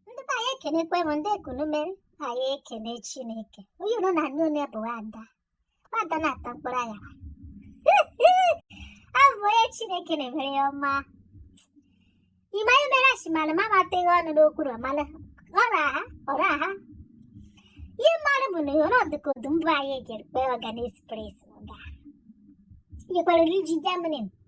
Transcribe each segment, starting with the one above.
ndị be anyị ekenekwe m ndị ekunu mere anyị ekene chineke onye nọ n'enu onye bụ wonder wonder na-ata mkpụrụ anya abụ onye chineke na-emere ya ọma ị ma ihe mere achịmara ma amateghị ọnụ n'okwu na ọmala ọra ha ọra ha ihe m maara bụ na ọ dịka odum bụ anyị ga-ekpe ọga na espres ọga nyekwara iji jaminin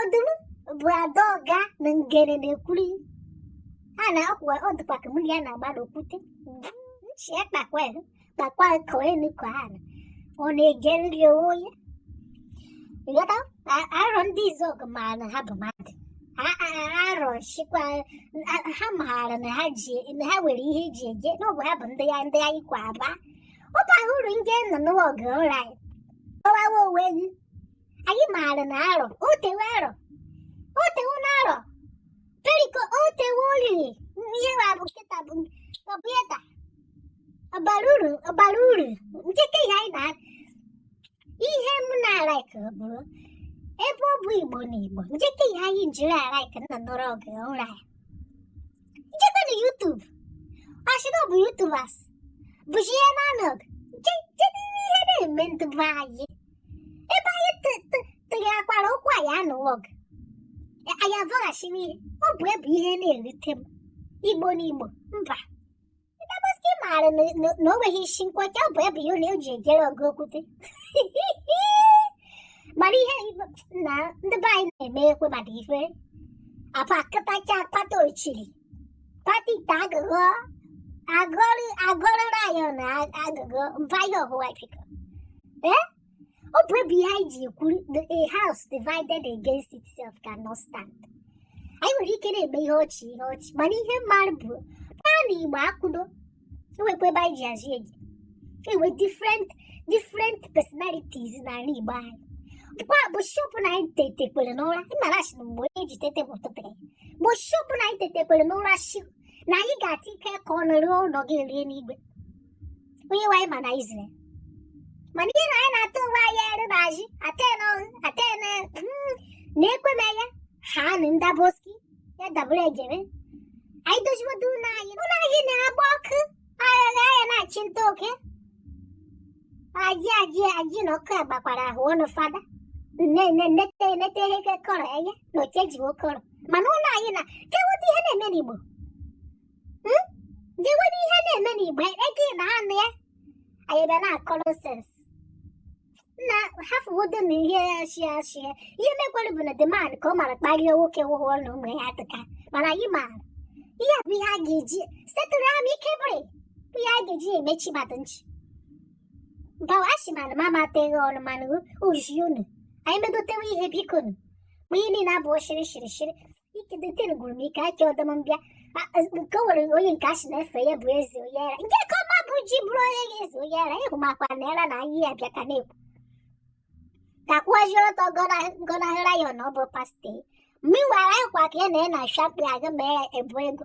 odum bụ ada ọga na ngere na-ekwuri a na-akwụwa ọ dịkwa ka mmiri a na-agba n'okwute nchi ya kpakwa ya kpakwa ka elu ka ha na ọ na-egeriri onwe onye ịghọta A- arọndizuọgụ maara na ha bụ mmadụ A- a- a- arọchukwu a- ha maara na ha ji na ha nwere ihe eji eje na ọ bụ ha bụ ndị ya ndị anyị kwa aba ọ bara uru ndị nọ n'ụwa oge ụra anyị kọwawa onwe gị anyị maara na arọ o tewe arọ o tewe na arọ periko o tewe olili ihe wa bụ nkịta bụ kọmpụta ọ bara uru ọ bara uru nkịta ihe anyị na ihe m na-alaiki bụrụ ebe ọ bụ igbo na igbo nkịta ihe anyị jiri alaiki nna nọrọ oge ụra ya m jekwa na yutub ọ sị na ọ bụ yutubas bụzi ihe na-anọg ihe na-eme ndị be anyị ebe anyị tụgherekwara okwu anyị anụwo gị anyị azọghachi n'ihe ọ bụ ya bụ ihe na-erute m igbo na igbo mba ndaboski maara na o nweghị isi nkwọcha ọ bụ ya bụ ihe na eji ejere ọgụ okwute mana ihe na ndị be anyị na-eme ekwe mmadụ ifere apa akatacha akpata ochiri Pati ta agụgọ agụrụ agụrụ rayọ na agụgọ mbayọ hụwa biko. Eh? Ọ bụ ya bụ ihe anyị ji ekwuru na a house divided against itself cannot stand. Anyị nwere ike na-eme ihe ọchị ihe ọchị mana ihe m maara bụ na ala Igbo akwụdo enwekwa ebe anyị ji azụ eje enwe different different personalities n'ala Igbo anyị kwa bishop na anyị tetekwere n'ụra ịmara asị na mgbe onye ji tete bụ ụtụtụ ya bishop na anyị tetekwere n'ụra shi na anyị ga-ata ike ka ọ nọrọ ụlọ gị rie n'igwe onye nwe anyị ma na izrel mana ihe na anyị na-atụ onwe anyị ere na azụ aten ọhụ aten na-ekwe m ya ha na ndaboski ya dabụrụ ejere anyị doziwodu ụlọ anyị ụlọ anyị na-agba ọkụ aghara ya na-achụ nta oke ajụ ajụ ajụ na ọkụ agbakwara ahụ ọnụ fada nne nne nnete enete ihe ka kọrọ enye na oche ji okọrọ mana ụlọ anyị na gewedu ihe na-eme n'igbo gewedu ihe na-eme n'igbo ị ga na-anụ ya anyị bịa na-akọrọ sens na hafụwodo na ihe ya shi ya shi ya ihe mekwara bụ na the man ka ọ mara kparie nwoke ahụ na ụmụ ya atụka mana anyị maara ihe a bụ ihe a ga-eji setụrụ ya ma ike bụrị bụ ihe a ga-eji emechi mmadụ nchi gawa achị mana m amateghị ọnụ mana uji unu anyị medotewe ihe bikonu ma ihe niile abụọ shiri shiri shiri ike dịte gwụrụ m ike aka ọdọm mbịa nke nwere onye nke asị na-efe ya bụ eze onye ara nke ka ọma bụ ji bụrụ onye ga-eze onye ara ịhụ makwa na era na anyị ya bịa ka na-ekwu ka kwụọzie ọtọ gọnahịra ya na ọ bụ pastọ mgbe ị wara ịkwa ka ya na ya na-achapụ ya aga mee ya ebu ego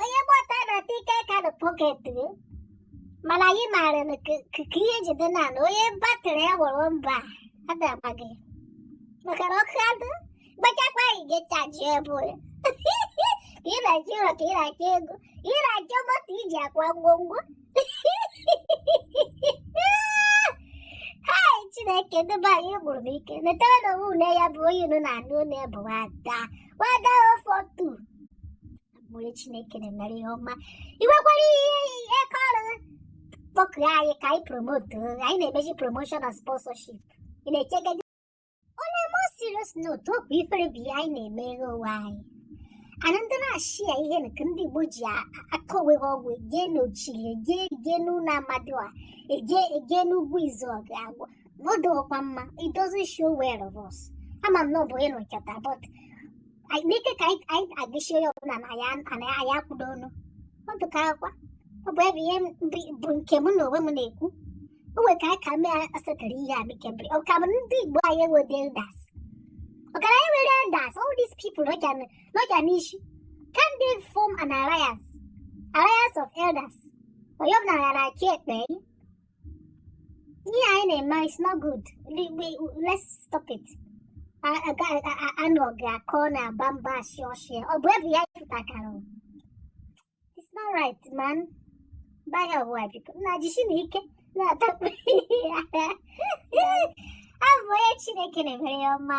onye gbọta na ike ka na pọket gị mana anyị maara na ka ihe jide na na onye batrị ya gwụrụ mba adabaghị maka na ọkụ adụ gbachakwa anyị ga-echaji ebe onye ka ị na-achọ ụlọ ka ị na-achọ ego ị na-achọ moto iji akwa ngwongwo chineke dube anyị gburu m ike netara na onwe une ya bụ onye unu na-anụ une bụ nwada nwada ofotu onye chineke na-emere ihe ọma i nwekwara ihe ihe ka ọrụ kpọkuo anyị ka anyị promote anyị na-emeji promotion na sponsorship ị na-echegide on a more serious note okwu ifere bụ ihe anyị na-emeghe onwe anyị anandị na-achị ya ihe nke ndị igbo ji akọ onwe ha ọgwụ e jee n'ochiri e jee e jee n'ụlọ amadịọha e jee e jee n'ugwu izu ọga agwụ na ọ dịghịkwa mma it doesn't show well of us ama m na ọ bụ ịnụ nkata but anyị- n'ike ka anyị- anyị agịchie ya ọbụla na ya na ya anyị akwụdo ọnụ ọ dịka akwa ọ bụ ebe ihe m- bụ nke mụ na onwe m na-ekwu o nwere ka anyị ka mee asetara ihe a bikebere ọ ka bụ ndị igbo anyị enwedị elders ọ kwa anyị nwere elders all these people nọcha n'isi can they form an alliance alliance of elders onye ọbụla gara aka ekpe ihe anyị na-eme is not good let's stop it anụ ọ ga-akọ na-agba mba ashị ọshị ọ bụ ebe ya pụtakwara It's not right, man. Baga boy, because na jishinu ike na takwe. Abụ onye Chineke na-emere ihe ọma.